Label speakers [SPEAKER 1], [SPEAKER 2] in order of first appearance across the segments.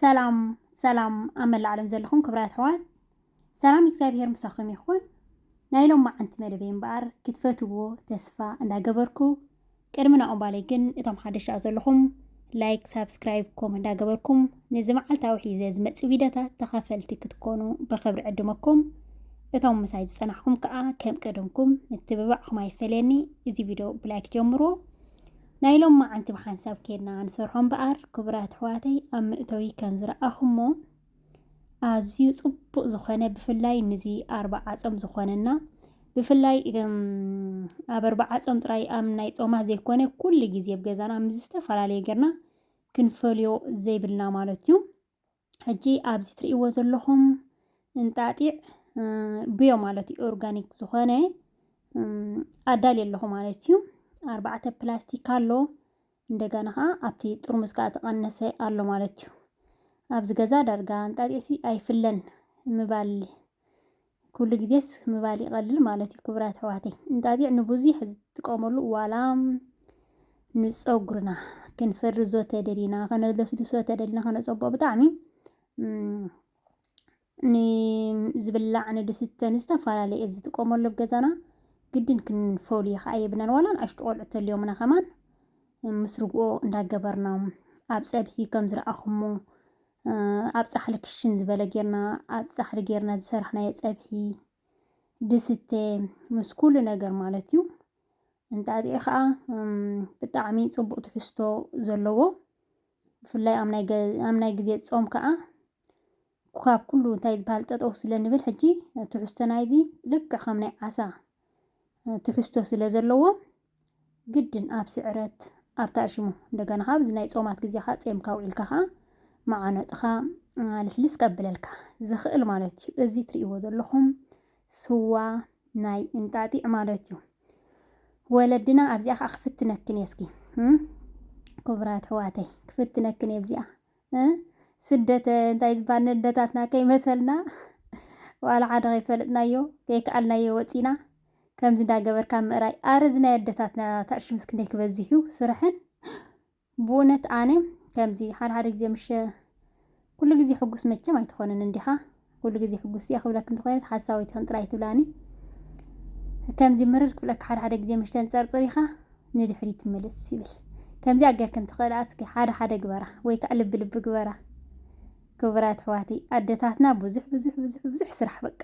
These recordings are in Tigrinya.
[SPEAKER 1] ሰላም ሰላም ኣብ መላእ ዓለም ዘለኹም ክብራ ኣሕዋት ሰላም እግዚኣብሄር ምሳኹም ይኹን። ናይ ሎም መዓንቲ መደበይ እምበኣር ክትፈትዎ ተስፋ እንዳገበርኩ ቅድሚ ናኦም ባለይ ግን እቶም ሓደሽ ደኣ ዘለኹም ላይክ ሳብስክራይብ ኮም እንዳገበርኩም ነዚ መዓልታዊ ሒዘ ዝመጽእ ቪድዮታት ተኻፈልቲ ክትኮኑ ብኽብሪ ዕድመኩም እቶም ምሳይ ዝጸናሕኩም ከኣ ከም ቀደምኩም ምትብባዕኩም ኣይፈለየኒ እዚ ቪድዮ ብላይክ ጀምርዎ ናይ ሎም መዓንቲ ብሓንሳብ ኬድና ንሰርሖ እምበኣር ክቡራት ኣሕዋተይ ኣብ ምእተዊ ከም ዝረኣኹሞ ኣዝዩ ጽቡቅ ዝኮነ ብፍላይ ንዚ ኣርባዓጾም ዝኮነና ብፍላይ ኣብ ኣርባዓጾም ጥራይ ኣብ ናይ ጾማት ዘይኮነ ኩሉ ግዜ ኣብ ገዛና ምስ ዝተፈላለየ ጌርና ክንፈልዮ ዘይብልና ማለት እዩ። ሕጂ ኣብዚ ትርእይዎ ዘለኹም እንጣጢዕ ብዮ ማለት እዩ ኦርጋኒክ ዝኾነ ኣዳልየ ኣለኹ ማለት እዩ። ኣርባዕተ ፕላስቲክ ኣሎ እንደገና ከኣ ኣብቲ ጥርሙዝ ከኣ ተቐነሰ ኣሎ ማለት እዩ። ኣብዚ ገዛ ዳርጋ እንጣጢዕሲ ኣይፍለን ምባል ኩሉ ግዜስ ምባል ይቐልል ማለት እዩ ክቡራት ኣሕዋተይ። እንጣጢዕ ንብዙሕ ዝጥቀመሉ ዋላ ንጸጉርና ክንፍርዞ ተደሊና ከነለስልሶ ተደሊና ከነጸብቆ ብጣዕሚ ንዝብላዕ ንድስተ ንዝተፈላለየ እየ ዝጥቀመሉ ኣብ ገዛና ግድን ክንፈልዮ ከኣ የብናን ዋላ ንኣሽቱ ቆልዑ ተልዮምና ከማን ምስ ርግኦ እንዳገበርና ኣብ ጸብሒ ከም ዝረኣኹሞ ኣብ ጻሕሊ ክሽን ዝበለ ጌርና ኣብ ጻሕሊ ጌርና ዝሰራሕናዮ ጸብሒ ድስተ ምስ ኩሉ ነገር ማለት እዩ እንጣጢዕ ከዓ ብጣዕሚ ጽቡቅ ትሕዝቶ ዘለዎ ብፍላይ ኣብ ናይ ግዜ ጾም ከዓ ካብ ኩሉ እንታይ ዝበሃል ጠጠው ስለ ንብል ሕጂ ትሕዝቶ ናይዚ ልክዕ ከም ናይ ዓሳ ትሕዝቶ ስለ ዘለዎ ግድን ኣብ ስዕረት ኣብ ታእሽሙ እንደገና ከኣ ኣብዚ ናይ ጾማት ግዜ ከኣ ጼምካ ውዒልካ ከኣ መዓነጥኻ ልስልስ ከብለልካ ዝኽእል ማለት እዩ። እዚ ትርእይዎ ዘለኹም ስዋ ናይ እንጣጢዕ ማለት እዩ። ወለድና ኣብዚኣ ከኣ ክፍትነክን እየ እስኪ ክቡራት ኣሕዋተይ ክፍትነክን እየ ኣብዚኣ ስደት እንታይ ዝባል ነደታትና ከይመሰልና ዋላ ሓደ ከይፈለጥናዮ ከይከኣልናዮ ወጺና ከምዚ እንዳገበርካ ምእራይ ኣረ እዚ ናይ ኣደታትና ታእሽምስ ክንደይ ክበዝሕ እዩ ስርሐን ብእውነት ኣነ ከምዚ ሓደ ሓደ ግዜ ምሸ ኩሉ ግዜ ሕጉስ መቸም ኣይትኾንን እንዲኻ ኩሉ ግዜ ሕጉስቲ እየ ክብለኪ እንተኮይነ ሓሳዊት ኢክን ጥራይ ትብላኒ ከምዚ ምርር ክብለኪ ሓደ ሓደ ግዜ ምሽ ተንጸርጽር ኢካ ንድሕሪት ትምልስ ይብል ከምዚኣ ጌርክን ትኽእላ እስኪ ሓደ ሓደ ግበራ ወይ ከዓ ልቢ ልቢ ግበራ ክቡራት ኣሕዋተይ ኣደታትና ብዙሕ ብዙሕ ብዙሕ ብዙሕ ስራሕ በቃ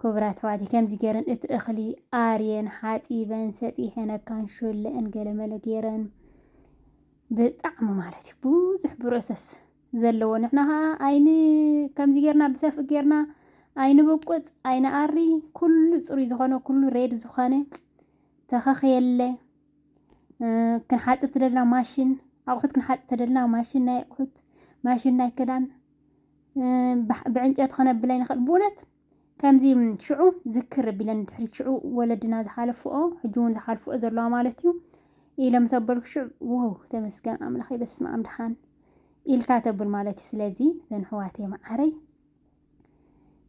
[SPEAKER 1] ክቡር ኣሕዋት ከምዚ ገረን እቲ እኽሊ ኣርየን ሓጺበን ሰጢሔን ኣካን ሾለእን ገለመለ ገረን ብጣዕሚ ማለት እዩ ብዙሕ ብሮሰስ ዘለዎ ንሕና ከዓ ኣይን ከምዚ ገርና ብሰፍእ ገርና ኣይንብቁፅ ኣይንኣሪ ኩሉ ፅሩይ ዝኾነ ኩሉ ሬድ ዝኾነ ተኸኽ የለ ክንሓፅብ ትደልና ማሽን ኣቑሑት ክንሓፅብ ተደልና ማሽን ናይ ኣቑሑት ማሽን ናይ ክዳን ብዕንጨቲ ከነብላ ይንኽእል ብእውነት ከምዚ ሽዑ ዝክር ቢለን ድሕሪት ሽዑ ወለድና ዝሓለፍኦ ሕጂ እውን ዝሓልፍኦ ዘለዋ ማለት እዩ ኢለ ምስ ኣበልኩ ሽዑ ዋው ተመስገን ኣምላኽ በስመ ኣም ድሓን ኢልካ ተብል ማለት እዩ ስለዚ ዘን ሕዋተይ መዓረይ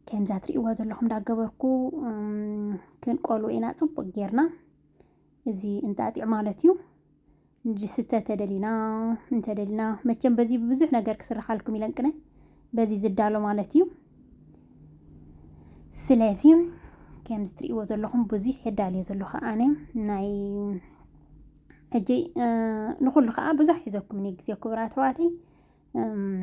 [SPEAKER 1] ከምዛ ትርእይዋ ዘለኹም እንዳገበርኩ ክንቆሉ ኢና ፅቡቅ ጌርና እዚ እንጣጢዕ ማለት እዩ። ዝስተ ተደሊና እንተደሊና መቸም በዚ ብዙሕ ነገር ክስርሓልኩም ኢለን ቅነ በዚ ዝዳሎ ማለት እዩ። ስለዚ ከም ዝትርእይዎ ዘለኹም ብዙሕ የዳልዮ ዘለኹ ኣነ ናይ ሕጂ ንኹሉ ከዓ ብዙሕ ሒዘኩምኒ ግዜ ክቡራ ኣሕዋተይ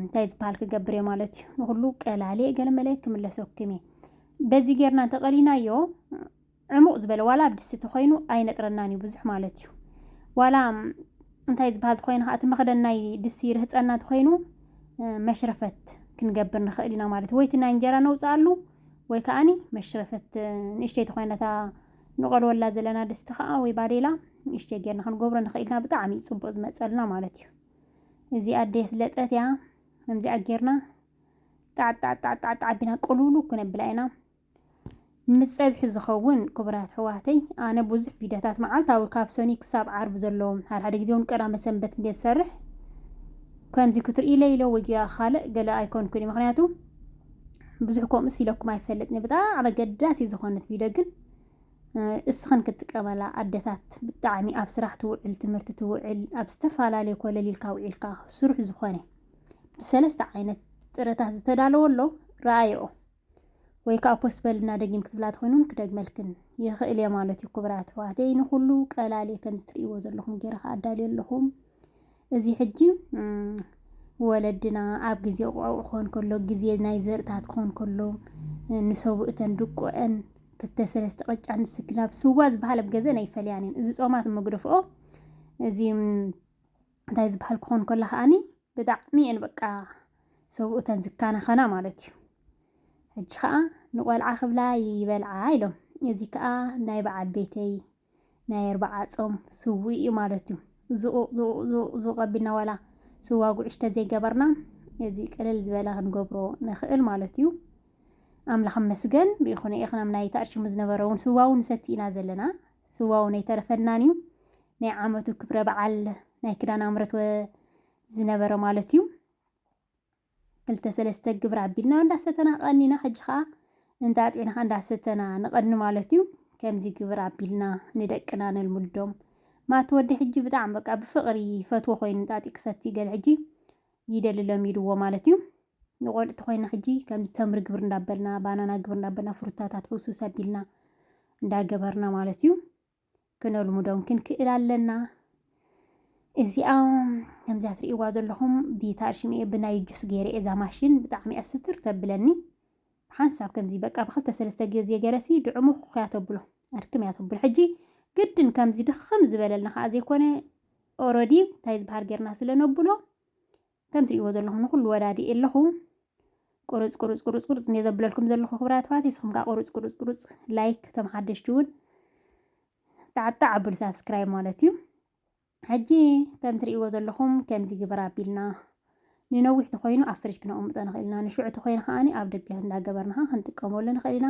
[SPEAKER 1] እንታይ ዝበሃል ክገብር እየ ማለት እዩ ንኹሉ ቀላሌ ገለመለ ክምለሰኩም እየ በዚ ጌርና እንተቐሊናዮ ዕሙቕ ዝበለ ዋላ ኣብ ድስቲ ተኾይኑ ኣይነጥረናን እዩ ብዙሕ ማለት እዩ። ዋላ እንታይ ዝበሃል ተኾይኑ ከዓ እቲ መኽደን ናይ ድስቲ ርህፀና ተኾይኑ መሽረፈት ክንገብር ንኽእል ኢና ማለት እዩ። ወይ እቲ ናይ እንጀራ ነውፅኣሉ ወይ ከዓኒ መሽረፈት ንእሽተይ ተኾይነታ ንቐልወላ ዘለና ድስቲ ከዓ ወይ ባዴላ ንእሽተይ ጌርና ክንገብሮ ንኽእል ኢና ብጣዕሚ እዩ ፅቡቕ ዝመፀልና ማለት እዩ። እዚኣ ኣደይ ስለጠት እያ ከምዚኣ ጌርና ጣዕጣዕጣዕጣዕጣዕ ኣቢና ቅልውሉ ክነብላ ኢና። ንጸብሒ ዝኸውን ክቡራት ኣሕዋተይ ኣነ ብዙሕ ቪድዮታት መዓልታዊ ካብ ሰኑይ ክሳብ ዓርቢ ዘለዉ ሓድሓደ ግዜ እውን ቀዳመ ሰንበት እንድየ ዝሰርሕ ከምዚ ክትርእይለይ ኢለ ወይ ካልእ ገለ ኣይኮንኩን እዩ ምክንያቱ ብዙሕ ከምኡስ ኢለኩም ኣይፈልጥን ብጣዕሚ ኣገዳሲ ዝኾነት ቪድዮ ግን እስኽን ክትጥቀመላ ኣደታት ብጣዕሚ ኣብ ስራሕ ትውዕል ትምህርቲ ትውዕል ኣብ ዝተፈላለየ ኮለል ኢልካ ውዒልካ ስሩሕ ዝኾነ ብሰለስተ ዓይነት ጥረታት ዝተዳለወ ኣሎ ረኣየኦ ወይ ከዓ ፖስት በልና ደጊም ክትብላ ትኾይኑን ክደግመልክን ይኽእል እየ ማለት እዩ ክቡራት ኣሕዋተይ ንኩሉ ቀላል እየ ከምዚ ትርእይዎ ዘለኹም ገይረ ከዓ ኣዳልዮ ኣለኹም እዚ ሕጂ ወለድና ኣብ ግዜ ቆብዕ ክኾን ከሎ ግዜ ናይ ዘርእታት ክኾን ከሎ ንሰቡ እተን ድቁዐን ክልተ ሰለስተ ቅጫ ንስክላብ ስዋ ዝበሃል ኣብ ገዘን ኣይፈልያን እየን እዚ ፆማት መግደፍኦ እዚ እንታይ ዝበሃል ክኾን ከሎ ከዓኒ ብጣዕሚ እየን በቃ ሰብኡተን ዝከናኸና ማለት እዩ ሕጂ ከዓ ንቆልዓ ክብላ ይበልዓ ኢሎም እዚ ከዓ ናይ በዓል ቤተይ ናይ ኣርባዓ ፆም ስዊ እዩ ማለት እዩ ዝቑቕ ዝቑቕ ዝቑቕ ዝቑቕ ኣቢልና ዋላ ስዋ ጉዕሽ ተዘይገበርና እዚ ቅልል ዝበለ ክንገብሮ ንኽእል ማለት እዩ ኣምላኽ መስገን ብይኹነ ኢኽናም ናይ ተኣሽሙ ዝነበረ እውን ስዋ እውን ሰቲ ኢና ዘለና ስዋ ውን ኣይተረፈናን እዩ ናይ ዓመቱ ክብረ በዓል ናይ ክዳን ኣምረት ወ ዝነበረ ማለት እዩ ክልተ ሰለስተ ግብሪ ኣቢልና እንዳሰተና ቀኒና ሕጂ ከዓ እንጣጢዕና ከዓ እንዳሰተና ንቐኒ ማለት እዩ ከምዚ ግብሪ ኣቢልና ንደቅና ነልምዶም ማቲ ወዲ ሕጂ ብጣዕሚ በቃ ብፍቕሪ ይፈትዎ ኮይኑ እንጣጢዕ ክሰቲ ገለ ሕጂ ይደሊ ለሚድዎ ማለት እዩ ንቆልዑ ተኾይና ሕጂ ከምዚ ተምሪ ግብር እንዳበልና ባናና ግብር እንዳበልና ፍሩታታት ሕውስውስ ኣቢልና እንዳገበርና ማለት እዩ ክነልሙዶም ክንክእል ኣለና እዚኣ ከምዚያ ትርእይዋ ዘለኹም ቢታር ሽምኤ ብናይ ጁስ ገይረ እዛ ማሽን ብጣዕሚ እያ ስትር ተብለኒ ሓንሳብ ከምዚ በቃ ብክልተ ሰለስተ ግዜ ገረሲ ድዕሙ ኩያ ተብሎ ኣድክም እያ ተብሎ ሕጂ ግድን ከምዚ ድኽም ዝበለልና ከዓ ዘይኮነ ኦረዲ እንታይ ዝበሃል ጌርና ስለ ነብሎ ከም ትርእይዎ ዘለኹም ንኹሉ ወዳዲኤ ኣለኹ። ቁርፅ ቁርፅ ቁርፅ ቁርፅ እንደ ዘብለልኩም ዘለኹ ክብራት ኣሕዋት ንስኹም ከዓ ቁርፅ ቁርፅ ቁርፅ ላይክ እቶም ሓደሽቲ እውን ጣዕጣዕ ኣብል ሳብስክራይብ ማለት እዩ ሕጂ ከም ትርእይዎ ዘለኹም ከምዚ ግብር ኣቢልና ንነዊሕ ተኮይኑ ኣብ ፍርጅ ክነቕምጦ ንኽእል ኢና ንሽዑ ተኮይኑ ከዓኒ ኣብ ደገ እንዳገበርና ከዓ ክንጥቀመሉ ንኽእል ኢና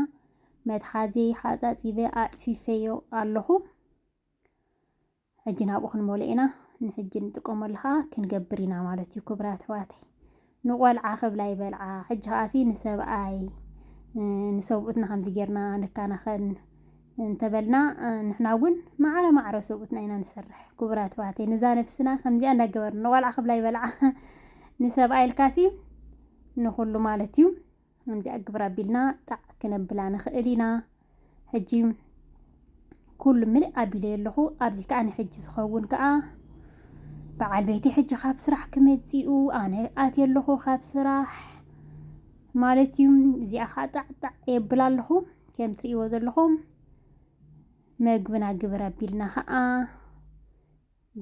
[SPEAKER 1] መትሓዚ ሓፃፂበ ኣፅፊፈዮ ኣለኹ ሕጂ ናብኡ ክንመልኦ ኢና፣ ንሕጂ ንጥቀመሉ ከኣ ክንገብር ኢና ማለት እዩ ክቡራት ኣሕዋተይ። ንቆልዓ ክብላ ይበልዓ፣ ሕጂ ከኣሲ ንሰብኣይ ንሰብኡትና ከምዚ ጌርና ንከናኸን እንተበልና ንሕና እውን ማዕረ ማዕረ ሰብኡትና ኢና ንሰርሕ። ክቡራት ኣሕዋተይ ንዛ ነፍስና ከምዚኣ እንዳገበርና ንቆልዓ ክብላ ይበልዓ ንሰብኣይ ኢልካሲ ንኹሉ ማለት እዩ። ከምዚኣ ግብር ኣቢልና ጣዕ ክነብላ ንኽእል ኢና ሕጂ ኩሉ ምልእ ኣቢለዮ ኣለኹ ኣብዚ ከዓ ንሕጂ ዝኸውን ከዓ በዓል ቤቲ ሕጂ ካብ ስራሕ ክመፂኡ ኣነ ኣትየ ኣለኹ ካብ ስራሕ ማለት እዩ እዚኣ ከዓ ጣዕጣዕ የብል ኣለኹ ከም ትርእይዎ ዘለኹም መግብና ግብር ኣቢልና ከዓ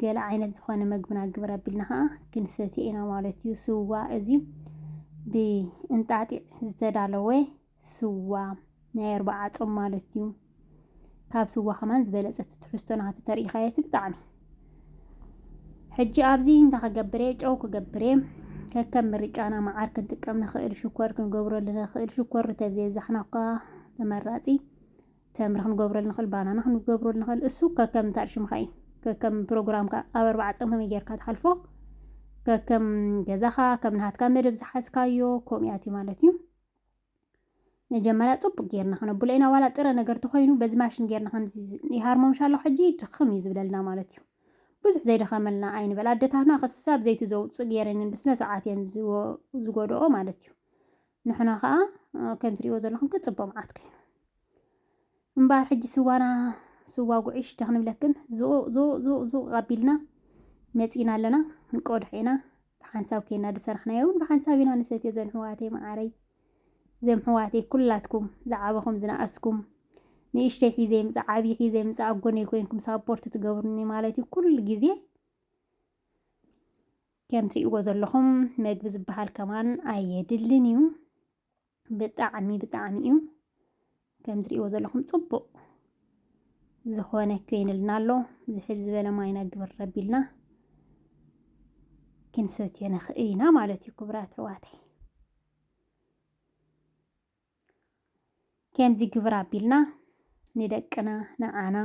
[SPEAKER 1] ገለ ዓይነት ዝኾነ መግብና ግብር ኣቢልና ኸዓ ክንሰትዮ ኢና ማለት እዩ። ስዋ እዚ ብእንጣጢዕ ዝተዳለወ ስዋ ናይ ኣርባዓ ጾም ማለት እዩ። ካብ ስዋ ከማን ዝበለጸ ትሕዝቶ ናቱ ተርእኻዮ ብጣዕሚ ሕጂ ኣብዚ እንታይ ክገብር እየ ጨው ክገብር እየ ከከም ምርጫና መዓር ክንጥቀም ንኽእል ሽኮር ክንገብረሉ ንኽእል ሽኮር ተብዘየብዛሕና እኳ ተመራጺ ተምሪ ክንገብረሉ ንኽእል፣ ባናና ክንገብረሉ ንኽእል፣ እሱ ከከም እንታይ ሽምካ እዩ ከከም ፕሮግራምካ ኣብ ኣርባዓ ጾም ከመይ ጌርካ ትሓልፎ ከከም ገዛኻ ከም ናሃትካ መደብ ዝሓዝካዮ ከምኡ እያ እትዩ ማለት እዩ። መጀመርያ ጽቡቅ ጌርና ክነብሎ ኢና ዋላ ጥረ ነገር ተኾይኑ በዚ ማሽን ጌርና ከምዚ ይሃርሞምሻ ኣሎ ሕጂ ድኽም እዩ ዝብለልና ማለት እዩ ብዙሕ ዘይደኸመልና ኣይንበል ኣደታትና ክሳብ ዘይቲ ዘውጽእ ጌረንን ብስነ ስርዓት እየን ዝጎድኦ ማለት እዩ ንሕና ከኣ ከም ትሪእዎ ዘለኹም ክጽቦ መዓት ኮይኑ እምበኣር ሕጂ ስዋና ስዋ ጉዕሽ ተክንብለክን ዙቕ ዙቕ ዙቕ ዙቕ ኣቢልና መጺና ኣለና ክንቆድሕ ኢና ብሓንሳብ ኮይና ዝሰራሕናዮ እውን ብሓንሳብ ኢና ንሰትዮ ዘምሕዋተይ መዓረይ ዘምሕዋተይ ኩላትኩም ዝዓበኹም ዝነኣስኩም ንእሽተይ ሒዘ ይምፃእ ዓብዪ ሒዘ ይምፃእ ኣብ ጎነይ ኮይንኩም ሳፖርት ትገብሩኒ ማለት እዩ ኩሉ ግዜ ከም ትሪእዎ ዘለኹም መግቢ ዝበሃል ከማን ኣየድልን እዩ። ብጣዕሚ ብጣዕሚ እዩ ከም ትሪእዎ ዘለኹም ጽቡቕ ዝኾነ ኮይንልና ኣሎ ዝሕል ዝበለ ማይና ግብር ረቢልና ክንሰትዮ ንኽእል ኢና ማለት እዩ ክብራት ሕዋተይ ከምዚ ግብር ኣቢልና ንደቅና ንዓና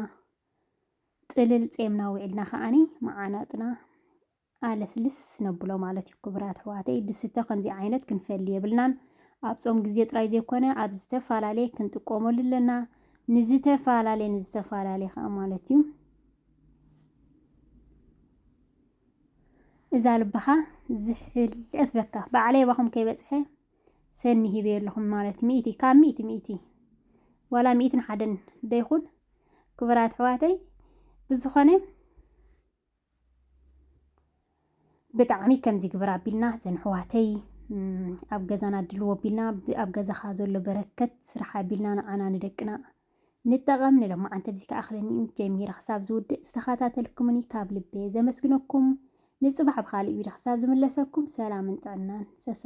[SPEAKER 1] ጥልል ጼምና ውዒልና ከዓኒ መዓናጥና ኣለስልስ ነብሎ ማለት እዩ ክቡራት ኣሕዋተይ ድስተ ከምዚ ዓይነት ክንፈሊ የብልናን ኣብ ጾም ግዜ ጥራይ ዘይኮነ ኣብ ዝተፈላለየ ክንጥቀመሉ ኣለና ንዝተፈላለየ ንዝተፈላለየ ከዓ ማለት እዩ እዛ ልብኻ ዝሕልቀት በካ ባዕለይ ባኹም ከይበፅሐ ሰኒ ሂበ ኣለኹም ማለት ሚእቲ ካብ ሚእቲ ሚእቲ ዋላ ሚእትን ሓደን ደይኹን ክብራት ኣሕዋተይ ብዝኾነ ብጣዕሚ ከምዚ ግበር ኣቢልና ዘን ኣሕዋተይ ኣብ ገዛና ኣድልዎ ኣቢልና ኣብ ገዛኻ ዘሎ በረከት ስራሕ ኣቢልና ንዓና ንደቅና ንጠቐም ንለማዓንቲ ኣብዚ ክኣኽለኒ እዩ ጀሚረ ክሳብ ዝውድእ ዝተኸታተልኩምኒ ካብ ልቤ ዘመስግነኩም ንፅባሕ ብካልእ ቪድዮ ክሳብ ዝምለሰኩም ሰላምን ጥዕናን ሰሰ